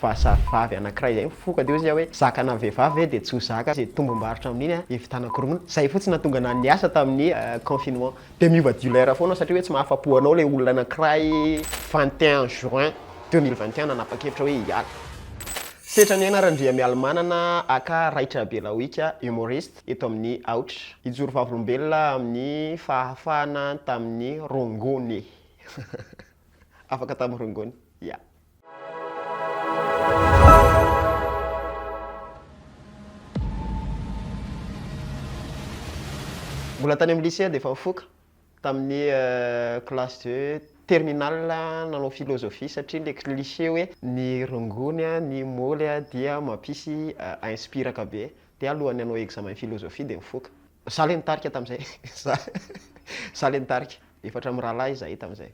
fa zatovavy anakiray zay mifoka teo zay hoe zaka na vehivavy ve dia tsy ho zaka ze tombombarotra amin'iny a dia vitanako rongony zay fotsiny nahatonga anah niasa tamin'ny confinement dia miova dealer foana satria hoe tsy mahafapo anao le olona anakiray 21 juin 2021 nanapa-kevitra hoe hiala setra ny aina Randriamialimanana aka Raitrabelawika humoriste eto amin'ny aotra hijoro vavolombelona amin'ny fahafahana tamin'ny rongony afaka tamin'ny rongony yeah Mbola tany amin'ny lycée aho dia efa nifoka, tamin'ny classe de terminale aho nanao philosophie satria ilay cliché hoe ny rongony, ny môly dia mampisy inspiraka be Dia alohan'ny hanao examen philosophie dia nifoka. Za le nitarika tamzay, za za le nitarika, efatra mirahalahy izahay tamzay.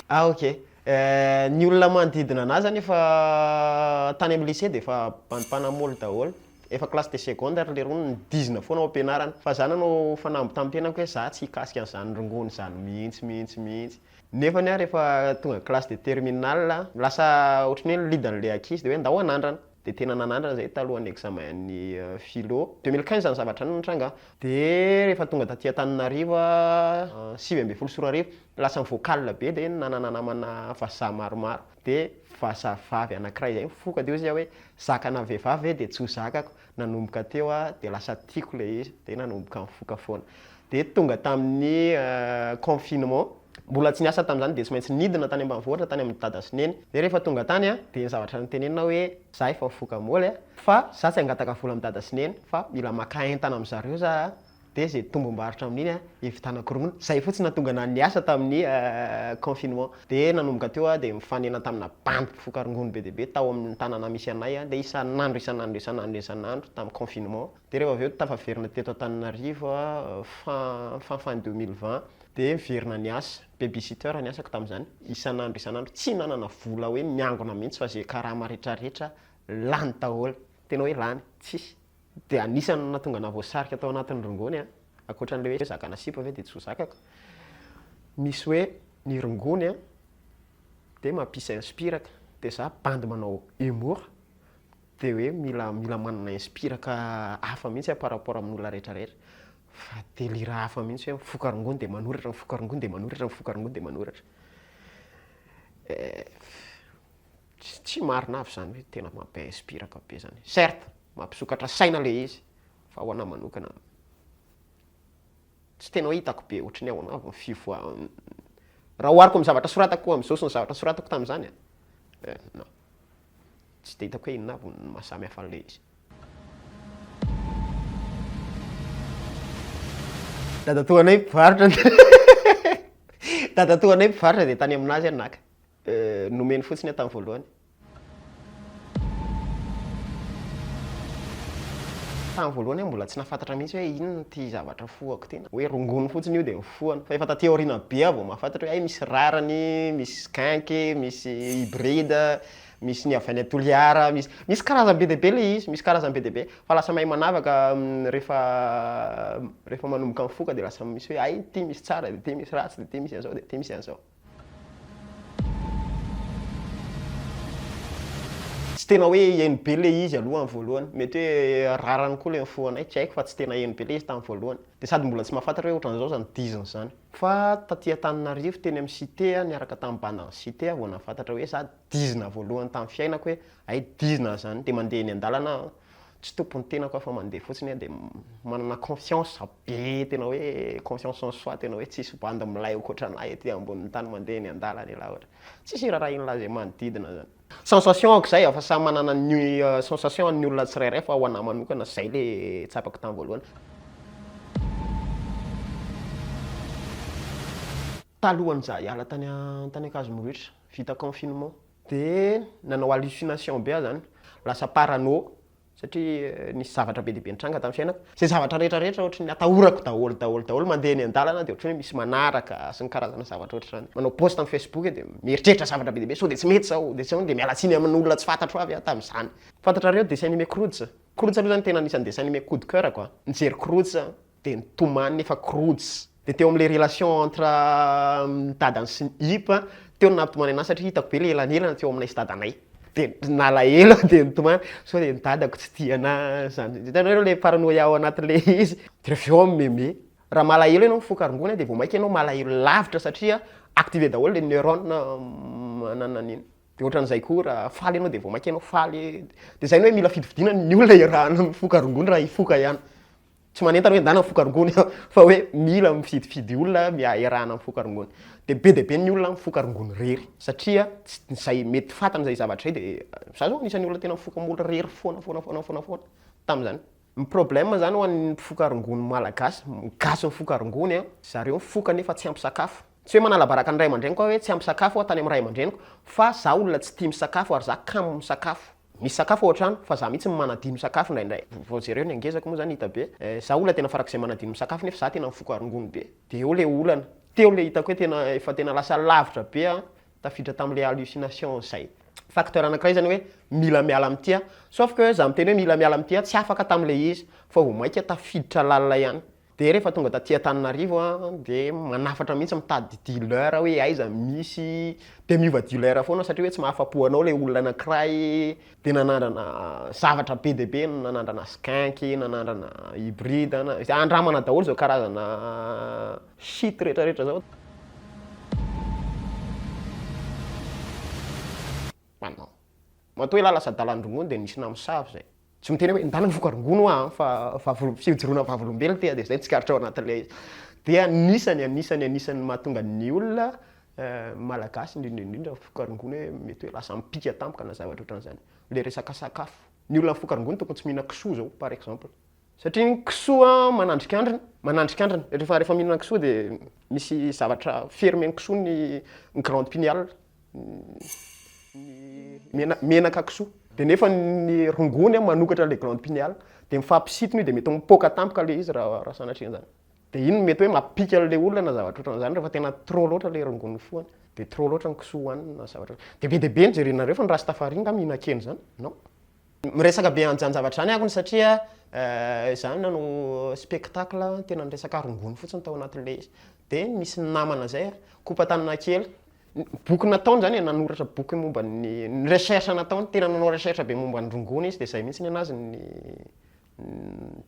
Ah ok, ny olona manodidina anah zany efa tany amin'ny lycée dia efa bandy mpanamolo daholo, efa classe de seconde ary leroa nidizina foana ao am-pianarana, fa za nanao fanamby tamim-piainako hoe za tsy hikasika an'izany rongony izany mihitsy mihitsy mihitsy. Nefany ary efa tonga classe de terminale, lasa ohatran'ny hoe lead an'ilay ankizy dia hoe ndao hanandrana. Dia tena nanandrana izahay talohan'ny examen-n'ny philo. Deux mille quinze izany zavatra izany no nitranga an. Dia rehefa tonga taty Antananarivo aho, sivy ambin'ny folo sy roa arivo, lasa mi-vocal be dia nanana namana vazaha maromaro. Dia vazavavy anankiray izay nifoka dia hoy izy aho hoe zaka na vehivavy ve dia tsy ho zakako. Nanomboka teo aho dia lasa tiako ilay izy dia nanomboka nifoka foana. Dia tonga tamin'ny confinement, mbola tsy niasa tamin'izany dia tsy maintsy nidina tany ambanivohitra tany amin'i dada sy neny. Dia rehefa tonga tany aho dia ny zavatra notenenina hoe za efa mifoka moly fa za tsy hangataka vola amin'i dada sy neny fa mila maka entana amin'izareo za be izay tombom-barotra amin'iny hividianana koronono. Izay fotsiny nahatonga ahy niasa tamin'ny confinement. Dia nanomboka teo aho dia mifanena tamina bandy mpifoka rongony be dia be tao amin'ny tanàna misy anay. Dia isan'andro, isan'andro, isan'andro, isan'andro tamin'ny confinement. Dia rehefa avy eo tafaverina teto Antananarivo aho fin, fin, fin deux mille vingt. Dia niverina niasa. Babysitter ny asako tamin'izany. Isan'andro, isan'andro. Tsy nanana vola hoe miangona mihitsy fa izay karama rehetra rehetra lany daholo. Tena hoe lany, tsisy. Dia anisan' ny nahatonga anah voasarika tao anatin' ny rongony an, ankoatran' ilay hoe zakana sipa ve dia tsy ho zakako, misy hoe ny rongony an dia mampis inspiraka, dia za bandy manao humour dia hoe mila mila manana inspiraka hafa mihitsy an par rapport amin' ny olona rehetra rehetra, fa delira hafa mihitsy hoe mifoka rongony dia manoratra, mifoka rongony dia manoratra, mifoka rongony dia manoratra. Tsy tsy marina avy zany hoe tena mampi inspiraka be zany. Certes, mampisokatra saina le izy fa ho anah manokana tsy tena hoe hitako be ohatry ny ahoana avy ny fivoa raha ohariko amin'ny zavatra soratako amin'izao sy ny zavatra soratako tamin'izany a, eh non, tsy dia hitako hoe inona avy ny maha samy hafa an'ilay izy. Dadatoanay mpivarotra Dadatoanay mpivarotra dia tany amin'azy aho naka. Nomeny fotsiny eo tamin'ny voalohany. Tamin'ny voalohany aho mbola tsy nahafantatra mihitsy hoe inona ity zavatra fohako ity. Hoe rongony fotsiny io dia mifohana. Fa efa taty aoriana be aho vao mahafantatra hoe hay misy rarany, misy skunk, misy hybride, misy ny avy any Toliara, misy misy karazany be dia be ilay izy, misy karazany be dia be. Fa lasa mahay manavaka rehefa rehefa manomboka mifoka dia lasa misy hoe hay ity misy tsara dia ity misy ratsy dia ity misy an'izao dia ity misy an'izao. Tsy tena hoe heno be ilay izy aloha amin'ny voalohany, mety hoe rarany koa ilay nifohanay, tsy haiko fa tsy tena heno be ilay izy tamin'ny voalohany. Dia sady mbola tsy mahafantatra hoe ohatran'izao izany diziny izany. Fa taty Antananarivo teny amin'ny Cité aho niaraka tamin'ny bandan'ny Cité aho vao nahafantatra hoe za dizina voalohany tamin'ny fiainako hoe hay dizina izany, dia mandeha eny an-dalana aho tsy tompon'ny tenako aho fa mandeha fotsiny aho dia manana confiance be tena hoe confiance en soi tena hoe tsisy bandy milay okoatran'ahy ety ambonin'ny tany mandeha eny an-dalana ela ohatra tsisy irarahin'lah zay manodidina zany sensation ko zay fa samy manana ny sensation ny olona tsirairay fa ho anah manokana zay le tsapako tany voalohany talohan'zah hiala tany an-tany Ankazo Morohitra vita confinement dia nanao hallucination be aho izany, lasa parano satria nisy zavatra be dia be nitranga tamin'ny fiainako, izay zavatra rehetra rehetra ohatry ny atahorako daholo daholo daholo, mandeha eny an-dalana dia ohatry ny hoe misy manaraka sy ny karazana zavatra ohatry izany, manao post amin'ny facebook dia mieritreritra zavatra be dia be sao dia tsy mety izao, dia tsy ahoana, dia miala tsiny amin'olona tsy fantatro avy aho tamin'izany. Fantatrareo dessin animé Croods? Croods aloha izany tena anisan'ny dessin animé coup de coeur-ko a, nijery Croods aho, dia nitomany nefa croods dia teo amin'ilay relation entre ny dadany sy ny Ip a, teo no nampitomany anahy satria hitako be le elanelana teo aminay sy dadanay, dia nalahelo aho dia nitomany sao dia ny dadako tsy tia anahy zany, hitanareo ilay paranoia ao anatin'le izy, dia avy eo aho mi-meme, raha malahelo ianao mifoka rongony dia vao mainka ianao malahelo lavitra satria activer daholo le neurone manana an'iny, dia ohatran'izay koa raha faly ianao dia vao mainka ianao faly, dia izay ny hoe mila fidifidiana ny olona iarahana mifoka rongony raha hifoka ihany. tsy manentana hoe ndana ny foko arongony fa hoe mila mifidifidy olona mia- iarahana amin'ny foko arongony. Dia be dia be ny olona amin'ny foko arongony irery satria tsy izay mety ho fantany izay zavatra izay dia za zao anisan'ny olona tena mifoka amin'olo irery foana foana foana foana foana tamin'izany. Ny problème zany ho an'ny mpifoka arongony malagasy, gasy mifoka arongony a, zareo mifoka nefa tsy ampy sakafo. Tsy hoe manala baraka ny ray aman-dreniko aho hoe tsy ampy sakafo aho tany amin'ny ray aman-dreniko fa za olona tsy tia misakafo ary za kamo misakafo. Misy sakafo ao an-trano fa za mihitsy no manadino sakafo indraindray. Vao jereo ny hangezako moa zany hita be. Eh, za olona tena farak'izay manadino ny sakafo nefa za tena mifoka rongony be. De eo le olana. Teo le hitako hoe tena efa tena lasa lavitra be an, tafiditra tam'le hallucination zay. Facteur anankiray zany hoe mila miala amin'ity aho. Sauf que za miteny hoe mila miala amin'ity aho, tsy afaka tam'le izy. Fa vao mainka tafiditra lalina ihany. Dia rehefa tonga taty Antananarivo aho dia manafatra mihitsy mitady dealer aho hoe aiza misy dia miova dealer foana aho satria hoe tsy mahafa-po anao ilay olona anankiray dia nanandrana zavatra be dia be, nanandrana skunk, nanandrana hybride, izay andramana daholo izao karazana shit rehetrarehetra izao. Matoa ialahy lasa dalan-drongony dia nisy namosavy izay. Tsy miteny hoe ndana foko rongony hoa an, fa vavolo, fijoroana vavolombelona ity an, dia izay ny tsikaritrao anatin'ilay izy. Dia anisany, anisany, anisany ny mahatonga ny olona Malagasy indrindra indrindra foko rongony hoe mety hoe lasa mipika tampoka na zavatra ohatran'izany. Ilay resaka sakafo. Ny olona foko rongony tokony tsy mihinana kisoa izao par exemple. Satria ny kisoa manandrikandrina, manandrikandrina. Rehefa, rehefa mihinana kisoa dia misy zavatra fermer ny kisoa ny glande pineale. menaka kisoa de nefa ny rongony an manokatra le glande pineale de mifampisintona io de mety mipoaka tampoka le izy raha raha sanatria an'zany de iny no mety hoe mampika an'le olona na zavatra ohatran'zany refa tena trop loatra le rongony fohany de trop loatra ny kisoa hoaniny na zavatra de be de be ny jerenareo fa ny rastafari nga mihinan-kena zany non miresaka be an'zany zavatra zany akony satria za nanao spectacle tena niresaka rongony fotsiny tao anatin'le izy de misy namana zay kopa-tanana kely boky nataony zany e, nanoratra boky momba ny ny recherche nataony, tena nanao recherche be momba ny rongony izy de zay mihitsy nenazy ny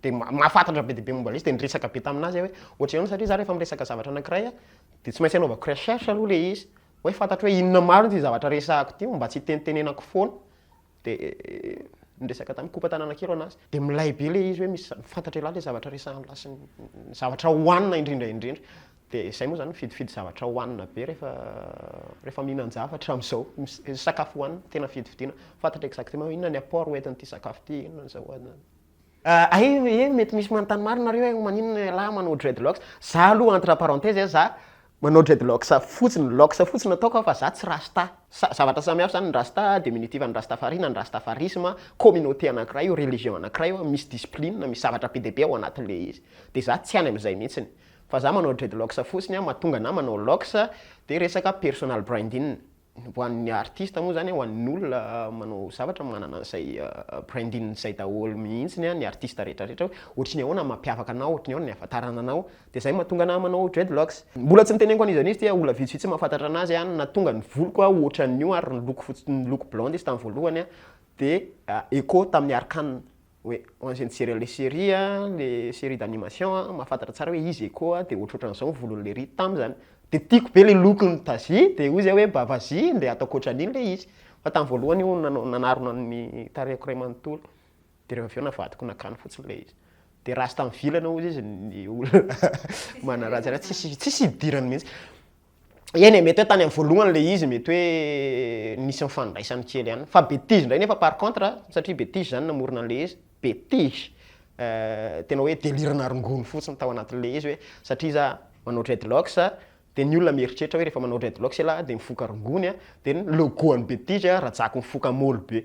de ma- mahafantatra be dia be momba an'le izy de niresaka be taminazy aho hoe ohatra izao satria za rehefa miresaka zavatra anankiray a de tsy maintsy anaovako recherche aloha le izy hoe fantatro hoe inona marina ity zavatra resahako ity mba tsy hitenitenenako foana dia niresaka tamin'ny kopa tanàna kely an'azy, dia milay be ilay izy hoe misy fantatra ialahy ilay zavatra resahan'ilahy sy ny zavatra hohanina indrindra indrindra. Dia izay moa izany mifidifidy zavatra hohanina be rehefa rehefa mihinan-javatra amin'izao, sakafo hohanina tena fidifidiana, fantatra exactement hoe inona ny apport ho entin'ity sakafo ity, inona izao. Aihh eh mety misy manontany maro nareo eh maninona lehilahy manao dreadlocks? Za aloha entre parenthèses eh za manao dreadlocks fotsiny, locks fotsiny ataoko aho fa za tsy rasta. Sa- zavatra samy hafa zany ny rasta, diminutif an'ny rastafari na ny rastafarisme, communauté anakiray io, religion anakiray io, misy discipline, misy zavatra be dia be ao anatin'ilay izy. Dia za tsy any amin'izay mihitsiny. Fa za manao dreadlocks fotsiny mahatonga anah manao locks dia resaka personal branding. ho an'ny artiste moa zany, ho an'ny olona manao zavatra manana an'izay branding izay daholo mihitsy ny artiste rehetra rehetra hoe ohatry ny ahoana ny mampiavaka anao, ohatry ny ahoana ny ahafantarana anao, dia izay no mahatonga anah manao dreadlocks. Mbola tsy niteneniko an'izy an'izy ity, olona vitsivitsy mahafantatra an'azy an, nahatonga ny voloko an ohatran'io ary niloko fotsy niloko blonde izy tamin'ny voalohany an, dia echo tamin'ny arcane. hoe ho an'izay nijery an'ilay série a, ilay série d'animation a, mahafantatra tsara hoe izy Echo a, dia ohatrohatran'izao ny volon'i Lery tamin'ny izany. Dia tiako be ilay lokon'i Daisy, dia hoy izahay hoe mba vas-y ndeha ataoko ohatran'iny ilay izy. Fa tamin'ny voalohany io no nanarona ny tarehiko iray manontolo, dia rehefa avy eo navadiko nakany fotsiny ilay izy. Dia rasta mivilana hozy izy ny olona manaratsy an'azy, tsisy tsisy hidirany mihitsy. Eny e, mety hoe tany amin'ny voalohany ilay izy, mety hoe nisy nifandraisany kely ihany. Fa betizy indray nefa par contre, satria betizy izany namorona an'ilay izy, betizy, eh, tena hoe deliranà rongony fotsiny tao anatin'ilay izy hoe satria za manao dreadlocks, dia ny olona mieritreritra hoe rehefa manao dreadlocks ialahy dia mifoka rongony, dia ny logo an'i betizy, rajako mifoka môly be.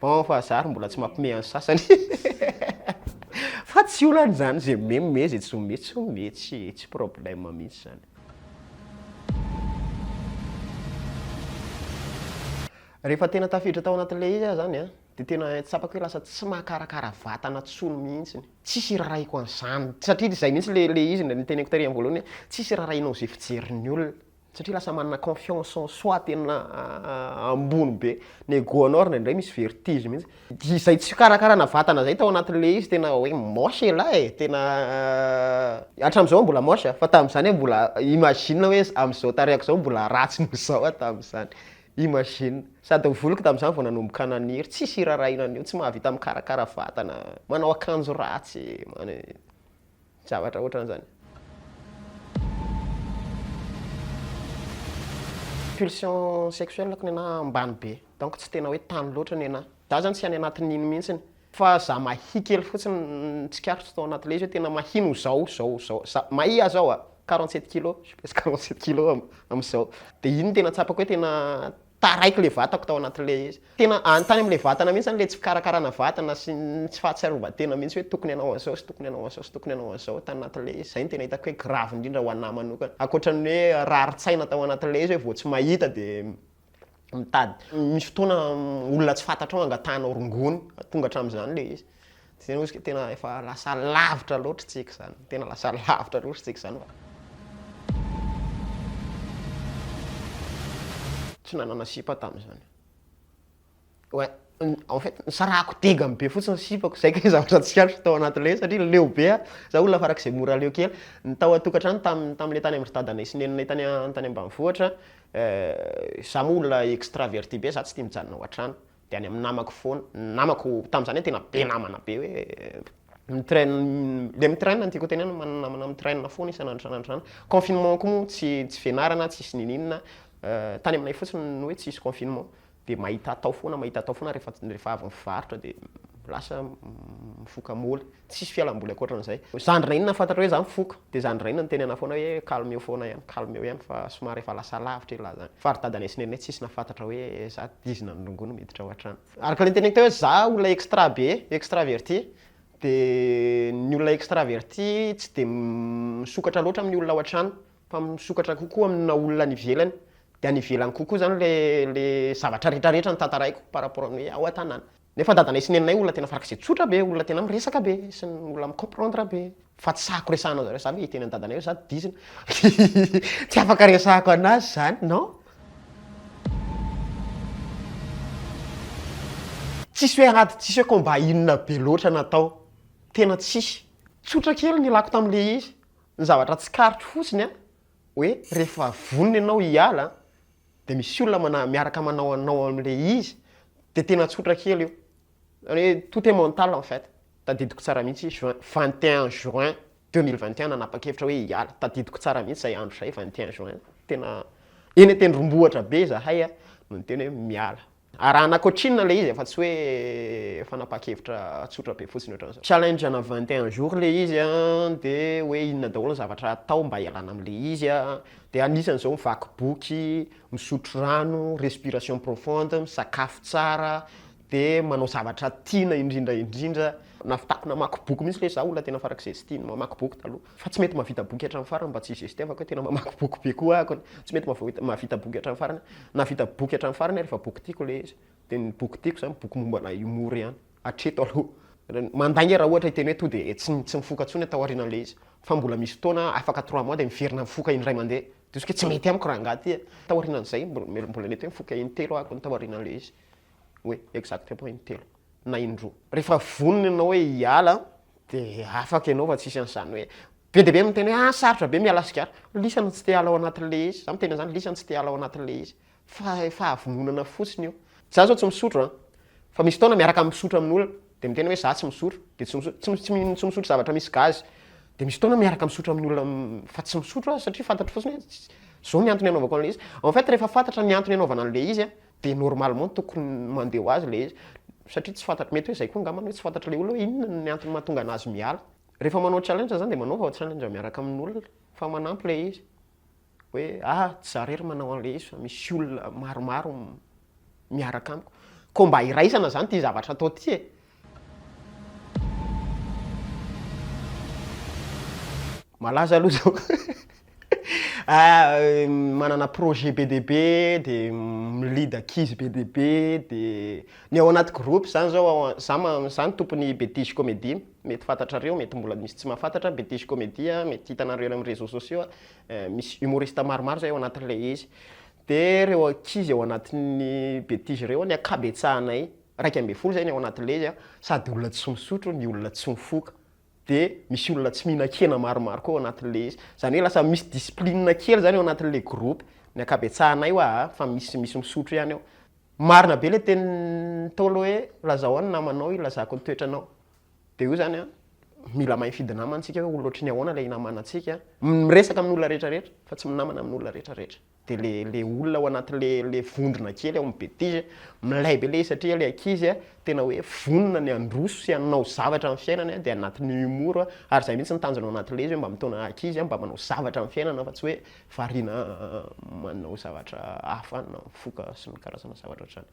Bon fa zah ary mbola tsy mampme an'ny sasany fa tsy olana izany ze me me ze tsy me tsy me tsy tsy problème mihitsy zany. Rehefa tena tafiditra tao anatin'ilay izy aho zany an, dia tena tsapako hoe lasa tsy mahakarakara vatana intsony mihitsy, tsisy iraraiko an'izany, satria izay mihitsy ilay ilay izy no teneniko tary amin'ny voalohany hoe tsisy irarahinao izay fijerin'ny olona. satria lasa manana confiance en soi tena ambony be, ny ego anao ary indraindray misy vertige mihitsy, dia izay tsy fikarakarana vatana izay tao anatin'ilay izy tena hoe moche elah e, tena hatramin'izao aho mbola moche a, fa tamin'izany aho mbola imagine hoe amin'izao tarehiko izao mbola ratsy noho izao aho tamin'izany, imagine, sady ny voloko tamin'izany vao nanomboka naniry, tsisy hiraharahiana an'io, tsy mahavita mikarakara vatana, manao akanjo ratsy, manao. Zavatra ohatran'izany. Pulsion sexuelle ko nenaha ambany be. Donc tsy tena hoe tany loatra nenaha. Za zany tsy any anatin'iny mihitsiny. Fa za mahia kely fotsiny ny tsikaritro tao anaty ilay izy hoe tena mahia noho zao, zao, zao. Za mahia zao a! Quarante sept kilos, je pèse quarante sept kilos am, am'zao. De iny no tena tsapako hoe tena, Taraiky ilay vatako tao anatin'ilay izy. Tena any tany amin'ilay vatana mihitsy ilay tsy fikarakarana vatana sy ny tsy fahatsiarovan-tena mihitsy hoe tokony hanao an'izao sy tokony hanao an'izao sy tokony hanao an'izao tany anatin'ilay izy. Izay no tena hitako hoe gravy indrindra ho an'ahy manokana. Ankoatra ny hoe rarin-tsaina tao anatin'ilay izy hoe vao tsy mahita dia mitady. Misy fotoana olona tsy fantatrao angatahanao rongony, tonga hatramin'izany ilay izy. Tsy zay ozy ka tena efa lasa lavitra loatra tsika zany, tena lasa lavitra loatra tsika zany fa. Tsy nanana sipa tamzany. Ouais, en fait nisarahako degany be fotsiny ny sipako, zay kay zavatra tsikaritra tao anaty le satria leo be ah, za olona farak'izay mora leo kely, ny tao an-tokantrano tam tamle tany amindry dadanay sy neninay tany an tany ambanivohitra, euh za moa olona extraverti be za tsy tia mijanona ao an-trano, dia any amin'ny namako foana, ny namako tamin'izany hoe tena be namana be hoe mitrain dia mitrain no tiako hotenenana, manana namana mitrain foana isan'andro isan'andro izany, confinement koa moa tsy tsy fianarana tsisy niniana, tany aminay fotsiny ny hoe tsisy confinement dia mahita atao foana mahita atao foana rehefa rehefa avy mivarotra dia lasa mifoka moly. Tsisy fialamboly ankoatran'izay. Zandrina inona fantatrao hoe za mifoka, de zandrina inona niteny anah foana hoe calme eo foana ihany, calme eo ihany fa somary efa lasa lavitra elah zany. Fa ry dadanay sy neninay tsisy nahafantatra hoe za dizina ny rongony miditra ao an-trano. Araka le niteneniko teo hoe za olona extra be, extraverti, de ny olona extraverti tsy de misokatra loatra amin'ny olona ao an-trano fa misokatra kokoa amina olona any ivelany, de any ivelany kokoa zany le le zavatra retraretra no tantaraiko par rapport amin'ny hoe ao an-tanàna. Nefa dadanay sy neninay olona tena farak'izay tsotra be, olona tena miresaka be, sy ny olona mi-comprendre be. Fa tsy sahako resahanao zareo za ve hiteny an'i dadanay hoe za dizina. Tsy afaka resahako anazy zany non. Tsisy hoe ady, tsisy hoe combat inona be loatra natao. Tena tsisy. Tsotra kely ny ilako tamin'ilay izy. Ny zavatra tsikaritro fotsiny an, hoe rehefa vonona ianao hiala an, de misy olona mana- miaraka manao anao amin'ilay izy de tena tsotra kely io. Zany hoe tout est mental en fait. Tadidiko tsara mihitsy juin, vingt et un juin deux mille vingt et un nanapa-kevitra hoe hiala. Tadidiko tsara mihitsy izay andro izay vingt et un juin. Tena eny an-tendrombohitra be izahay no niteny hoe miala. Arahana coaching ilay izy e, fa tsy hoe fanapahan-kevitra tsotra be fotsiny ohatran'izao. Challenge ana 21 jours ilay izy an, dia hoe inona daholo ny zavatra atao mba hialana amin'ilay izy an, dia anisan'izao mivaky boky, misotro rano, respiration profonde, misakafo tsara, dia manao zavatra tiana indrindra indrindra. Navitako namaky boky mihitsy ilay izy, za olona tena farak'izay tsy tia ny mamaky boky taloha. Fa tsy mety mahavita boky hatramin'ny farany mba tsy hi-gestevako hoe tena mamaky boky be koa aho. Tsy mety mahavita boky hatramin'ny farany aho. Nahavita boky hatramin'ny farany aho rehefa boky tiako ilay izy. Dia ny boky tiako izany boky momba ana humour ihany, hatreto aloha. Mandainga raha ohatra hiteny hoe tonga dia tsy tsy mifoka intsony aho taorian'ilay izy. Fa mbola misy fotoana aho afaka trois mois dia miverina mifoka indray mandeha. Diso kay tsy mety amiko raha angaha ity a! Taorianan'izay mbola mety hoe mifoka intelo aho akon'ny taorian'ilay izy. hoe exact point intelo na indroa. Rehefa vonona ianao hoe hiala dia afaka ianao fa tsisy an'izany hoe be dia be miteny hoe ah sarotra be miala sigara, lisany tsy te hiala ao anatin'ilay izy, za miteny an'izany lisany tsy te hiala ao anatin'ilay izy, fa fahavononana fotsiny io. Za zao tsy misotro an, fa misy fotoana miaraka misotro amin'olona dia miteny hoe za tsy misotro dia tsy misotro, tsy tsy tsy misotro zavatra misy gazy, dia misy fotoana miaraka misotro amin'olona fa tsy misotro aho satria fantatro fotsiny hoe zao ny antony anaovako an'ilay izy, en fait rehefa fantatra ny antony anaovana an'ilay izy an, dia normalement tokony mandeha ho azy ilay izy satria tsy fantatro, mety hoe izay koa angambany hoe tsy fantatr'ilay olona hoe inona ny antony mahatonga an'azy miala. Rehefa manao challenge zany dia manaova ao challenge miaraka amin'olona fa manampy ilay izy hoe ah tsy za irery manao an'ilay izy fa misy olona maromaro miaraka amiko, koa mba hiraisana zany ity zavatra atao ity e. Malaza aloha zao manana projet be dia be, dia mi lead ankizy be dia be, dia ny ao anaty groupe zany zao aho, za ma- za no tompon'ny Betizy Comedy, mety fantatrareo, mety mbola misy tsy mahafantatra, Betizy Comedy, mety hitanareo eny amin'ny réseaux sociaux, misy humoriste maromaro zay ao anatin'ilay izy, dia ireo ankizy ao anatin'ny Betizy ireo ny ankabetsahanay, iraika ambin'ny folo zay ny ao anaty le izy a, sady olona tsy misotro ny olona tsy mifoka, de misy olona tsy mihinan-kena maromaro koa ao anatin'ny le izy, zany hoe lasa misy discipline kely zany ao anatin'ny le groupe, ny ankabetsahanay hoa a, fa misy misy misotro ihany ao. Marina be le tenin'ny ntaolo hoe lazao an ny namanao hilazako ny toetranao, de io zany a mila mahay mifidy namana tsika hoe olona ohatry ny ahoana le hinamanantsika, miresaka amin'ny olona rehetra rehetra fa tsy minamana amin'ny olona rehetra rehetra. de le le olona ao anaty le le vondrona kely ao amin'ny betise milay be le izy satria le ankizy a tena hoe vonona ny handroso sy hanao zavatra amin'ny fiainany a de anatin'ny humour a ary zay mihitsy ny tanjona ao anaty le izy hoe mba mitaona ankizy a mba manao zavatra amin'ny fiainana fa tsy hoe variana manao zavatra hafa any na mifoka sy ny karazana zavatra ohatr'zany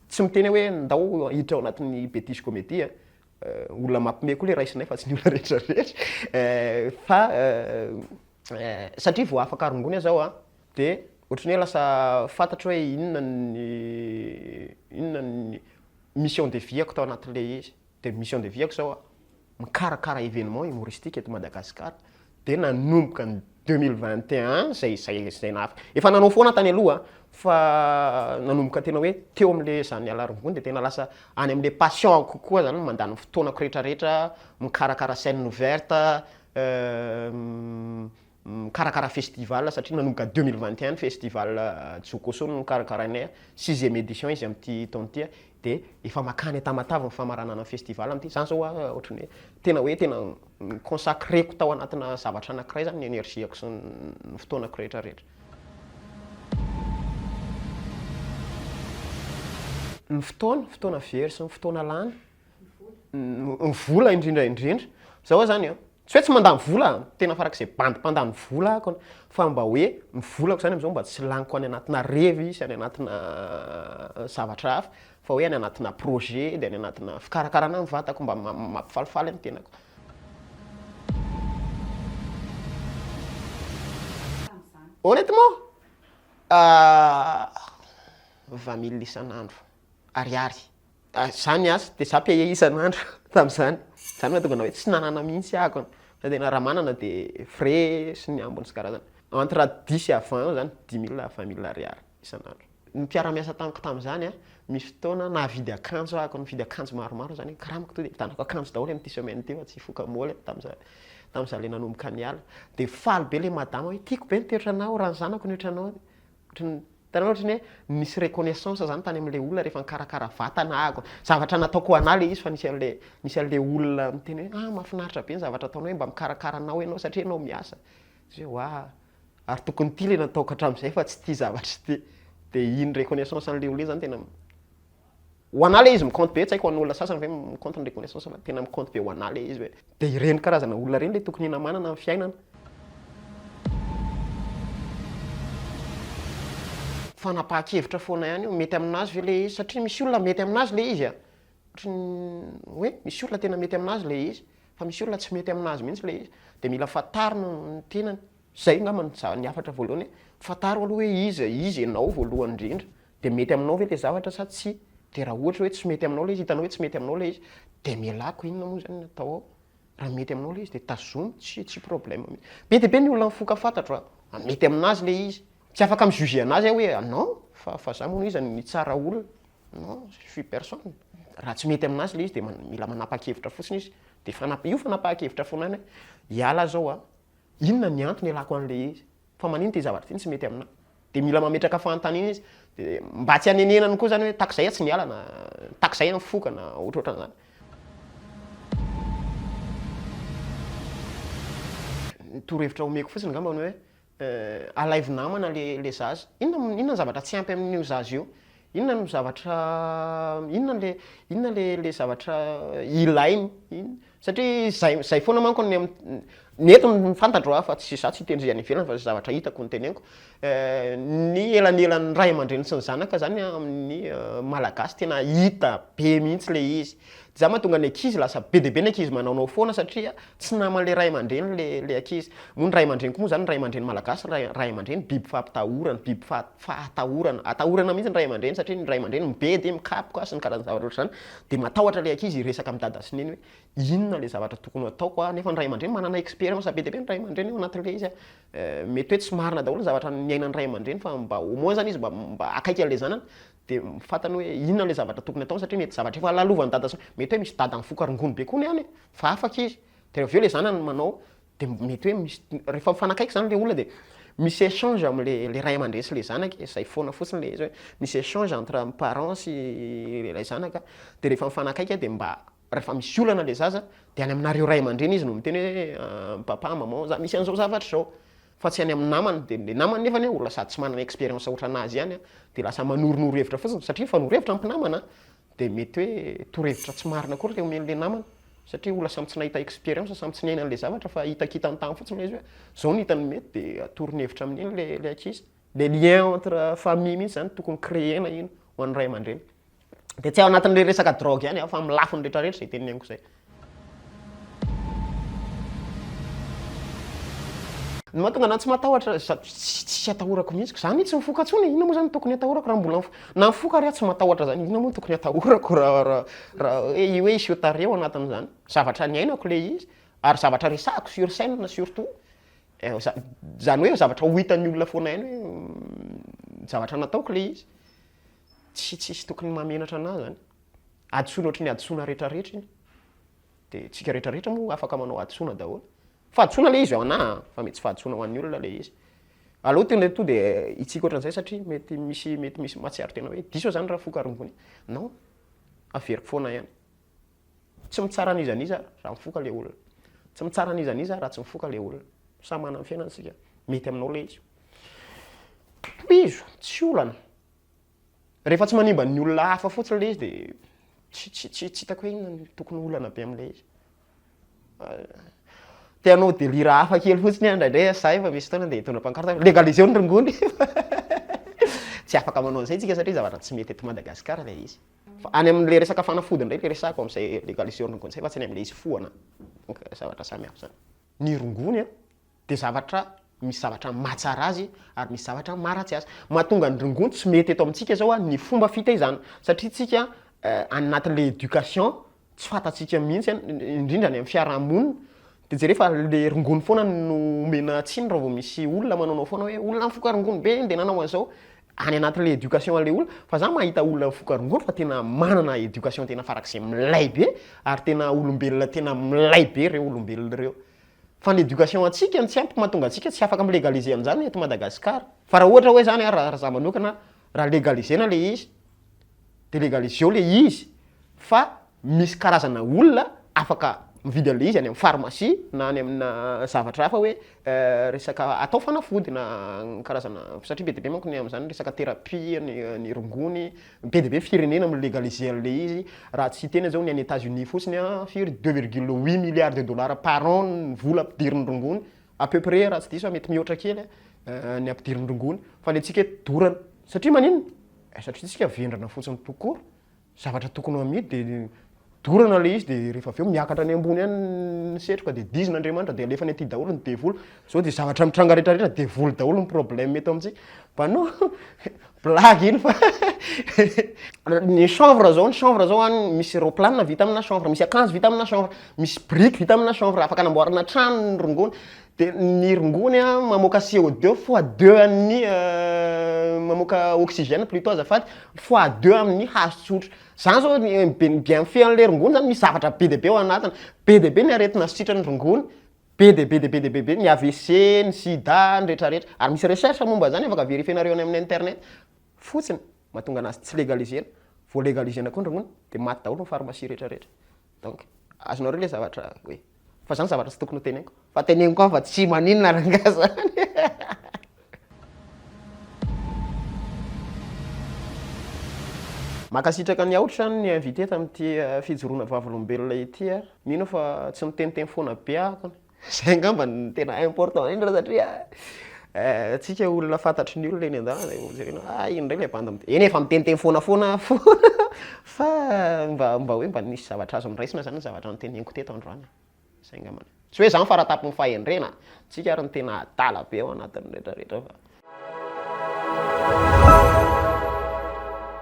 tsy miteny aho hoe ndao hiditra ao anatin'ny betise comedy a olona mampime koa le raisinay fa tsy ny olona rehetra rehetra fa Satria vao afaka rongony aza aho a, dia ohatran'ny hoe lasa fantatro hoe inona ny inona ny mission de vie-ako tao anatin'ilay izy. Dia ny mission de vie-ako izao a, mikarakara événement humoristique eto Madagasikara. Dia nanomboka ny deux mille vingt et un izay izay izay nahafa-, efa nanao foana tany aloha fa nanomboka tena hoe teo amin'ilay izaho niala rongony dia tena lasa any amin'ilay passion-ko kokoa izany no mandany ny fotoanako rehetrarehetra mikarakara scène ouverte, mikarakara festival satria nanomboka deux mille vingt et un ny festival Jokoso no nokarakarainay, sixième édition izy amin'ity taona ity, dia efa makany an-tamatave ny famaranana ny festival amin'ity, zany zao hoa ohatran'ny hoe tena hoe tena mi-consacrer-ko tao anatina zavatra anakiray zany ny énergie-ko sy ny fotoanako rehetra rehetra. Ny fotoana, fotoana very sy ny fotoana lany, ny vola indrindra indrindra zao hoe zany an tsy hoe tsy mandany vola an tena farak'izay bandy mpandany vola ahako an fa mba hoe ny volako zany am'zao mba tsy laniko any anatina revy sy any anatina zavatra hafa fa hoe any anatina projet de any anatina fikarakarana ny vatako mba mampifalifaly ny tenako honnêtement vingt mille isan'andro ariary Zany aza de za payer isan'andro tam'zany, zany mahatonga anah hoe tsy nanana mihitsy ah akony, fa tena raha manana de frais sy ny ambiny sy karazany entre dix à vingt eo zany, dix mille à vingt mille ariary isan'andro. Ny mpiara-miasa tamiko tam'zany an, misy fotoana nahavidy akanjo ah akony, nividy akanjo maromaro zany, karamiko tonga de vitanako akanjo daholo am'ty semaine ty fa tsy hifoka moly ah tam'za tam'za le nanomboka niala, de faly be le madama hoe tiako be ny toetranao, raha ny zanako ny otranao, Hitanao ohatry ny hoe misy reconnaissance zany tany amin'ilay olona rehefa nikarakara vatana aho, zavatra nataoko ho anà ilay izy fa nisy an'ilay nisy an'ilay olona niteny hoe ah mahafinaritra be ny zavatra ataonao hoe mba mikarakara anao ianao satria ianao miasa, zay hoe wah, ary tokony ity ilay nataoko hatramin'izay fa tsy ity zavatra ity, dia iny reconnaissance an'ilay olona iny zany tena Ho anà le izy mi-compte be, tsy haiko ho an'olona sasany ve mi-compte ny reconnaissance fa tena mi-compte be ho anà le izy hoe dia ireny karazana olona ireny le tokony hinamanana ny fiainana. Fanapahan-kevitra foana ihany io, mety amin'azy ve le izy satria misy olona mety amin'azy le izy a! Ohatry ny hoe misy olona tena mety amin'azy le izy fa misy olona tsy mety amin'azy mihitsy le izy, dia mila fantarina ny tenany. Izay angamba ny hafatra voalohany hoe fantaro aloha hoe iza izy ianao voalohany indrindra, Dia mety aminao ve ilay zavatra sa tsia? Dia raha ohatra hoe tsy mety aminao ilay izy, hitanao hoe tsy mety aminao ilay izy, dia amelako, inona moa izany no atao ao? Raha mety aminao ilay izy dia tazomy, tsy tsy problème mihitsy. Be dia be ny olona mifoka fantatro a! Raha mety aminazy ilay izy. Tsy afaka mi-juger anazy aho hoe non, fa fa za moa iza no mitsara olona? Non, je suis personne. Raha tsy mety aminazy ilay izy dia mila manapa-kevitra fotsiny izy. Dia fanap- io fanapahan-kevitra foana any hoe hiala aho izao a! Inona ny antony ialako an'ilay izy? Fa manino ity zavatra ity no tsy mety aminahy? Dia mila mametraka fanontaniana izy. Dia mba tsy hanenenany koa izany hoe tahaka izay aho tsy miala na tahaka izay aho mifoka na ohatrohatran'izany. Ny torohevitra omeko fotsiny angambany hoe alaivo namana ilay zaza. Inona inona ny zavatra tsy ampy amin'io zaza io? Inona no zavatra inona ilay inona ilay ilay zavatra ilainy? Satria zay zay foana manko ny ny eto ny fantatro a fa tsy za tsy hitendry any ivelany fa zay zavatra hitako no teneniko, ny elanelan'ny ray aman-dreny sy ny zanaka zany amin'ny malagasy tena hita be mihitsy le izy, zany mahatonga ny ankizy lasa be dia be ny ankizy manaonao foana satria tsy naman'le ray aman-dreny le le ankizy, moa ny ray aman-dreny koa moa zany ny ray aman-dreny malagasy ray ray aman-dreny biby fampitahorana biby faha- fahatahorana atahorana mihitsy ny ray aman-dreny satria ny ray aman-dreny mibedy mikapoka sy ny karazana zavatra ohatr'zany Dia matahotra ilay ankizy hiresaka amin'i Dada sy Neny hoe inona ilay zavatra tokony hataoko an, nefa ny ray aman-dreny manana expérience be dia be ny ray aman-dreny ao anatin'ilay izy an, mety hoe tsy marina daholo ny zavatra niainan'ny ray aman-dreny fa mba au moins zany izy mba mba akaiky an'ilay zanany dia fantany hoe inona ilay zavatra tokony hataony satria mety zavatra efa lalovan'i Dada sy Neny, mety hoe misy Dada mifoka rongony be koa ny any e, fa afaka izy, dia avy eo ilay zanany manao de mety hoe misy rehefa mifanakaiky zany le olona de misy échange am'le le ray aman-dreny sy le zanaka e, zay foana fotsiny le izy hoe misy échange entre ny parent sy ilay zanaka, de rehefa mifanakaiky de mba rehefa misy olana le zaza de any aminareo ray aman-dreny izy no miteny hoe papa, maman za misy an'zao zavatra zao, fa tsy any amin'ny namany, de le namany nefany olona sady tsy manana expérience ohatranazy ihany de lasa manoronoro hevitra fotsiny satria mifanoro hevitra ny mpinamana, Dia mety hoe torohevitra tsy marina akory ilay omeny ilay namana satria olona samy tsy nahita expérience, samy tsy niaina an'ilay zavatra fa hitakitany tany fotsiny ilay izy hoe izao no hitany mety dia atorony hevitra amin'iny ilay ilay ankizy. Ilay lien entre famille mihitsy izany no tokony créer-na iny ho an'ny ray aman-dreny. Dia tsy ao anatin'ilay resaka drogue ihany fa amin'ny lafiny rehetrarehetra izay teneniko izay. Ny mahatonga anah tsy matahotra tsy atahorako mihitsy ka zany tsy mifoka tsony e, inona moa zany tokony atahorako raha mbola na mifoka ary aho tsy matahotra zany inona moa tokony atahorako raha raha hoe io hoe hiseho tarehy ao anatin'izany, zavatra niainako le izy ary zavatra resahiko sur scène surtout, zany hoe zavatra ho hitan'ny olona foana ihany hoe zavatra nataoko le izy, tsy tsisy tokony mahamenatra anah zany. hadisoana ohatry ny hadisoana retraretra iny de tsika retraretra moa afaka manao hadisoana daholo fahadisoana le izy hoanah a fa mety tsy fahadisoana hoan'ny olona le izy aleo tena to de hitsika ohatran'izay satria mety misy mety misy mahatsiaro tena hoe diso aho zany raha foka rongony non averiko foana ihany tsy mitsara an'iza n'iza raha mifoka le olona tsy mitsara an'iza n'iza raha tsy mifoka le olona samy manana ny fiainany isika mety aminao le izy tohizo tsy olana Rehefa tsy manimba ny olona hafa fotsiny ilay izy dia tsy tsy tsy tsy hitako hoe inona no tokony olana be amin'ilay izy. Te hanao délire hafa kely fotsiny aho indraindray fa za efa misy fotoana dia hitondra pancarte hoe legaliseo ny rongony. Tsy afaka manao an'izay isika satria zavatra tsy mety eto Madagasikara ilay izy. Fa any amin'ilay resaka fanafody indray ilay resahako amin'izay legaliseo ny rongony izay fa tsy ny amin'ilay izy foana. Donc zavatra samy hafa izany. Ny rongony an, dia zavatra misy zavatra mahatsara azy ary misy zavatra maharatsy azy. Mahatonga ny rongony tsy mety eto amintsika izao ny fomba fitaizana satria tsika eh, any anatin'ilay éducation tsy fantatsika mihitsy indrindra any amin'ny fiarahamonina dia jereo fa le rongony foana no omena tsiny raha vao misy olona manaonao foana hoe olona mifoka rongony be dia nanao an'izao any anatin'ilay éducation an'ilay olona fa za mahita olona mifoka rongony fa tena manana éducation tena farak'izay milay be ary tena olombelona tena milay be ireo olombelona ireo Fa ny éducation antsika no tsy ampy mahatonga antsika tsy afaka mi-legaliser an'izany eto Madagascar. Fa raha ohatra hoe zany raha za manokana raha legaliser-na le izy de legaliser-o le izy fa misy karazana olona afaka mividy an'le izy any amin'ny pharmacie na any amina zavatra hafa hoe resaka atao fanafody na karazana satria be dia be manko ny amin'izany resaka thérapie ny rongony, Be dia be firenena mi-legaliser an'ilay izy, raha tsy hiteny aza hono any Etats Unis fotsiny an, firy? Deux virgule huit milliards de dollars par an ny vola ampidirin'ny rongony, à peu près raha tsy diso aho, mety mihoatra kely an, ny ampidirin'ny rongony, fa ny antsika eto dorana, satria maninona? Eh, satria isika vendrana fotsiny tout court, zavatra tokony ho amidy dia dorana ilay izy dia rehefa avy eo miakatra any ambony any ny setroka dia dizina Andriamanitra dia alefany aty daholo ny devoly, izao dia zavatra mitranga rehetrarehetra devoly daholo ny problème eto amintsika, mpanao blague iny fa ny chanvre izao ny chanvre izao any misy aeroplane vita amina chanvre, misy akanjo vita amina chanvre, misy biriky vita amina chanvre afaka anamboarana trano ny rongony, dia ny rongony an mamoaka CO deux fois deux an'ny mamoaka oxygène plutot azafady, fois deux amin'ny hazo tsotra. Zany zao bien fihany le rongony zany misy zavatra be dia be ao anatiny, be dia be ny aretina sitrany rongony, be dia be dia be dia be be ny avc, ny sida, ny rehetra rehetra, ary misy recherche momba zany afaka verifier-nareo any amin'ny internet fotsiny mahatonga anazy tsy legaliser-na, vao legaliser-na koa ny rongony de maty daholo ny pharmacie rehetra rehetra. Donc azonareo le zavatra hoe fa zany zavatra tsy tokony ho teneniko fa teneniko an fa tsy maninona rangah zany. Mankasitraka ny aotra ny invité tamin'ity fijoroana vavolombelona ity a. Mino aho fa tsy miteniteny foana be aho kony. Zay angamba no tena important indrindra satria eh, antsika eh, olona fantatry ny olona eny an-dalana eh, jerena ah iny indray ilay banda eny efa miteniteny foana foana foana fa mba mba hoe mba nisy zavatra azo noraisina zany ny zavatra noteneniko teto androany zay angamba tsy hoe zany faratapin'ny fahendrena antsika ary ny tena adala be ao anatin'ny rehetrarehetra fa